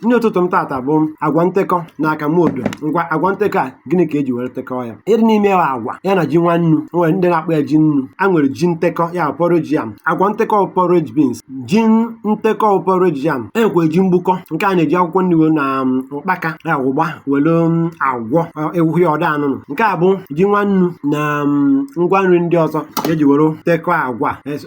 nri ụtụtụ m tata bụ agwa ntekọ na akamụ odo ngwa agwa ntekọ a gịnị ka eji were tekọọ ya ihe dị n'ime ya agwa ya na ji nwa nnu o nwere ndị na-akpọ ya ji nnu a nwere ji ntekọ ya bụ porridge yam agwa ntekọ bụ porridge beans ji ntekọ bụ porridge yam e nwekwa ji mgbukọ nke a na-eji akwụkwọ nri wee na um, ụkpaka ya wụ ụgba were um, agwọ ọ- ewu ya ọda anụnụ nke a bụ ji nwa nnu na um, ngwa nri ndị ọzọ eji were tekọọ agwa Es-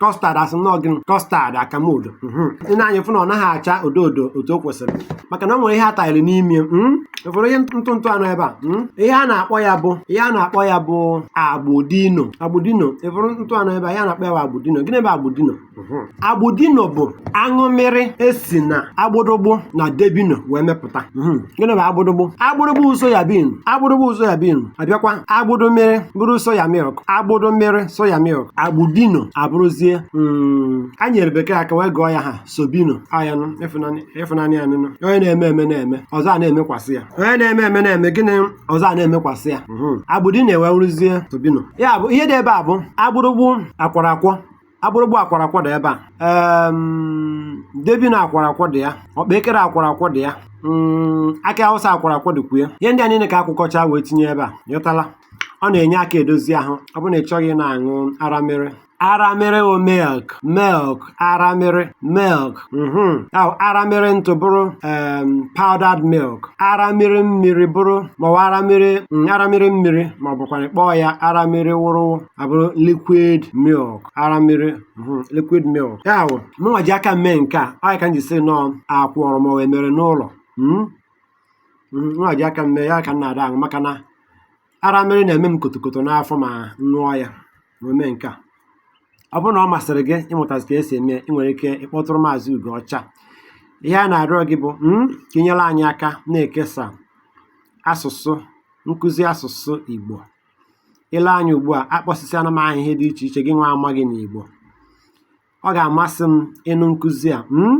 kọstad asị m na ọ gịnị kọstad akamụ odo mhm. i nee anya fụ na ọ naghị acha odo odo otu o kwesịrị maka na o nwere ihe a tanyere n'ime ya mhm. ị fụrụ ihe ntụ ntụ a nọ ebe a mhm. ihe a na-akpọ ya bụ ihe a na-akpọ ya bụ agbụdino agbụdino ị fụrụ ntụ a nọ ebe a ihe a na-akpọ ya bụ agbụdino gịnị bụ agbụdino agbụdino bụ aṅụmịrị e si na agbụdụgbụ na debino wee mepụta gịnị bụ agbụdụgbụ agbụdụgbụ soya bin agbụdụgbụ soya bin abịakwa agbụdụmịrị bụrụ soya milk agbụdụmịrị soya milk agbụdino abụrụzie mm, a nyere bekee aka wee gụọ ya aha sobino ayanụ ịfụnanya ya nụnụ onye na-eme eme na-eme ọzọ a na-emekwasị ya onye na-eme eme na-eme gịnị ọzọ a na-emekwasị ya mhm. agbụdino ewee wụrụzie sobino ya bụ ihe dị ebe a bụ agbụdụgbụ akwọrọ akwọ agbụdụgbụ akwọrọ akwọ dị ebe a em, debino akwọrọ akwọ dị ya ọkpa ekere akwọrọ akwọ dị ya mm, akị awụsa akwọrọ akwọ dịkwu ya ihe ndị a niile ka akwọkọcha wee tinye ebe a ị ghọtala ọ na-enye aka edozi ahụ ọ bụrụ na ị chọghị ịna-aṅụ aramịrị aramịrị o milk milk aramịrị milk mhm ahụ aramịrị ntụ bụrụ em, powdered milk aramịrị mmiri bụrụ maọbụ aramịrị mm, aramịrị mmiri ma ọ bụkwa kpọọ ya aramịrị wụrụwụ abụrụ liquid milk aramịrị mhm, liquid milk ya bụ mụnwa ji aka mee nke a ọ ya ka m ji sị na ọ akwọrọ m wee mere n'ụlọ hmm? hmm, mụnwa ji aka mee ya ka m na-ada aṅụ maka na aramịrị na-eme m kotokoto n'afọ ma m ṅụọ ya wee mee nke a ọ bụrụ na ọ masịrị gị ịmụtazi ka e si eme ị nwere ike ịkpọtụrụ maazị ugo ọcha ihe a na-arịọ gị bụ hmm, ka i nyere anyị aka na-ekesa asụsụ nkụzi asụsụ Igbo i lee anya ugbu a akpọsịsịana m aha ihe dị iche iche gị nwa amaghị n'Igbo ọ ga-amasị m ị nụ nkụzi a hmm?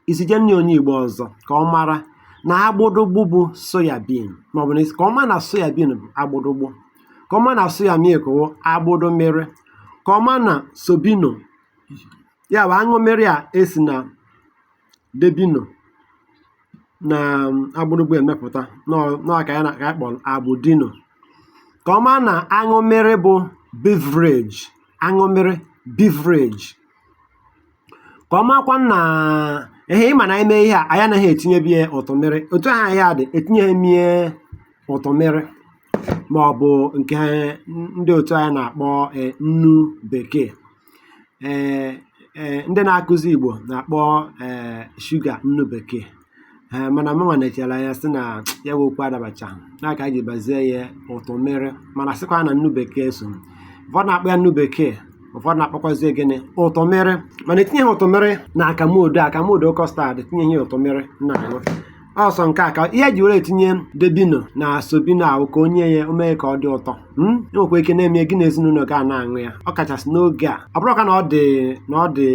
i zije nye onye Igbo ọzọ ka ọ mara na agbụdụgbụ bụ soyabin maọbụ na ka ọ ma na soyabin bụ agbụdụgbụ ka ọ ma na soya milk wụ agbụdụmịrị ka ọ ma na sobino ya bụ aṅụmịrị a e si na debino na um, agbụdụgbụ emepụta na ọ ya ka anyị kpọrọ agbụdino ka ọ ma na aṅụmịrị bụ beverage aṅụmịrị beverage ka ọ makwa na ehe ị ma n'ime ihe a anyị anaghị etinyebi ya ụtọmịrị otu ihe a dị etinyeghị m ya ụtọmịrị ma ọ bụ nke ndị otu anyị na-akpọ eh, nnu bekee ee ee ndị na-akụzi Igbo na-akpọ ee shuga nnu bekee ee mana mụnwa nechara ya sị na ya bụ okwu adabachaghị na ka a ji bazie ya ụtụ mmiri mana sịkwa na nnu bekee so ụfọdụ na-akpọ ya nnu bekee ụfọdụ na-akpọkwazi gịnị ụtụ mmiri mana etinyeghị ụtụ mmiri na akamụ odo akamụ odo kọstad etinyeghị ụtụ mmiri na-aṅụ o so nke a ka ihe ji were etinye debino na sobino ahụ ka o nye ya o mee ka ọ dị ụtọ mm? i nwekwa ike na-eme gị na ezinụlọ gị a na-aṅụ ya ọ kachasị n'oge a ọ bụrọkwa na ọ dị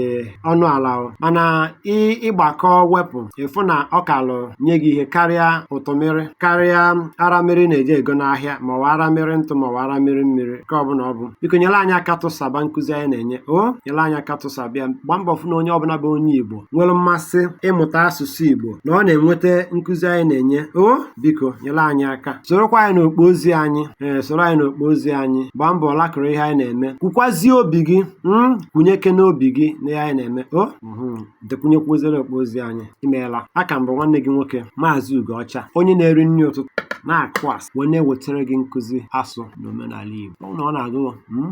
ọnụ ala o mana ị- ị gbakọọ wepụ ị fụ na ọ kalụ nye gị ihe karịa ụtụ mmiri karịa ara mmiri na-eje ego n'ahịa ma ọ ara mmiri ntụ ma ọ ara mmiri mmiri nke ọ bụla ọ bụ biko nyere anyị aka tụsaba nkụzi anyị na-enye o nyere anyị aka tụsaba ya gbaa mbọ fụ na onye ọbụla bụ onye igbo nwere mmasị ịmụta asụsụ Igbo na ọ na-enweta nkụzi anyị na-enye o biko nyere anyị aka sorokwa anyị n'okpo ozi anyị ee soro anyị n'okpo ozi anyị gbaa mbọ laịkụrụ ihe anyị na-eme kwukwazie obi gị hmm, kwunyekene obi gị na ihe anyị na-eme o hmm, dekwunyekwuzie n'okpo ozi anyị imeela a ka m bụ nwanne gị nwoke maazị Ugoọcha onye na-eri nri ụtụtụ na-akụ asụ wee na-ewetara gị nkụzi asụ na omenala Igbo ọ na-agụ hmm,